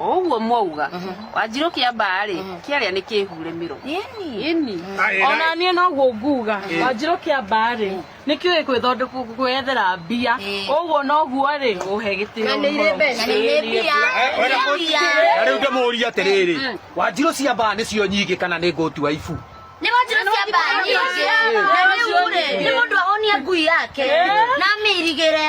o ũguo mwauga wanjirũ kĩa mbaa rĩ kĩarĩa nĩ kĩhure mĩro ĩni ona niĩ noguo nguga wanjirũ kĩa mbaa rĩ nĩ kĩũĩ gwĩthondeka- gwĩyethera mbia ũguo noguo rĩ ũhe gĩtĩo Na nĩ irĩ mbeca. Na nĩ mbia. Wenda Nĩ mbia. na rĩu ndĩmũrie atĩrĩrĩ wanjirũ cia mbaa nĩcio nyingĩ kana nĩ ngũtua ibu Nĩ wanjirũ cia mbaa nyingĩ. Na rĩu rĩ, nĩ mũndũ ahonie ngui yake na amĩirigĩre.